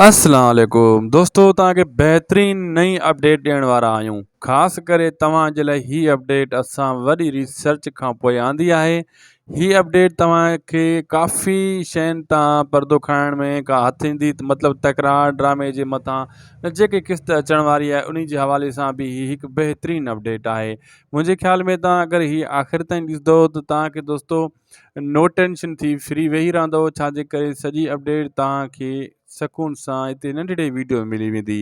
اسلام عليڪم دوستو توهان کي بهترين نئين اپڊيٽ ڏيڻ وارا آهيون خاص ڪري توهان جي لاء هي اپڊيٽ اسان وڏي ريسرچ کان پوء آندي آهي هي اپڊيٽ توهان کي ڪافي شين تان پردو کائڻ ۾ ڪا هٿ ايندي مطلب تڪرار ڊرامي جي مٿان جيڪي قسط اچڻ واري آهي انهي جي حوالي سان به هي هڪ بهترين اپڊيٽ آهي منهنجي خيال ۾ توهان اگر هي آخر تائين ڏسندو ته توهان کي دوستو نو ٽينشن ٿي فري ويهي رهندو ڇا جي ڪري سڄي اپڊيٽ توهان کي سڪون سان هتي ننڍڙي ويڊيو ۾ ملي ويندي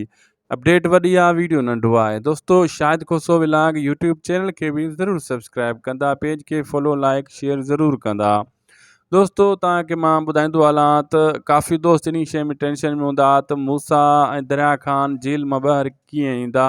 اپڊيٽ وڏي آهي ويڊيو ننڍو آهي دوستو Shahid Khoso vlog YouTube channel کي به ضرور سبسڪرائب ڪندا پيج کي فالو لائڪ شيئر ضرور ڪندا دوستو تان کي مان ٻڌائيندو هلان ته ڪافي دوست انهي شيء ۾ ٽينشن ۾ هوندا ته موسا ۽ دريا خان جيل مان ٻاهر ڪيئن ايندا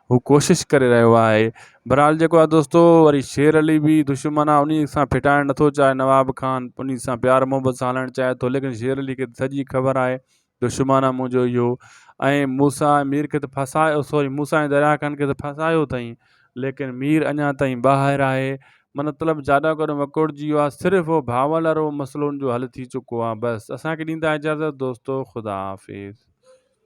هو ڪوشش ڪري رهيو آهي. بھرحال جيڪو آهي دوستو وري شير علي به دشمن آهي انهي سان ڦٽائڻ نٿو چاهي نواب خان انهي سان پيار محبت سان هلڻ چاهي ٿو ليڪن شير علي کي ته سڄي خبر آهي دشمن آهي منهنجو اهو ۽ موسيٰ ۽ مير کي ته ڦاسايو سوري موسيٰ ۽ دريا خان کي ته ڦاسايو اٿئي ليڪن مير اڃا تائين ٻاهر آهي منطلب جاڏو ڪڏو وڪوڙجي ويو آهي صرف اهو ڀانول وارو مسئلو ان جو حل ٿي چڪو آهي بس اسان کي ڏيندا اجازت دوستو خدا حافظ.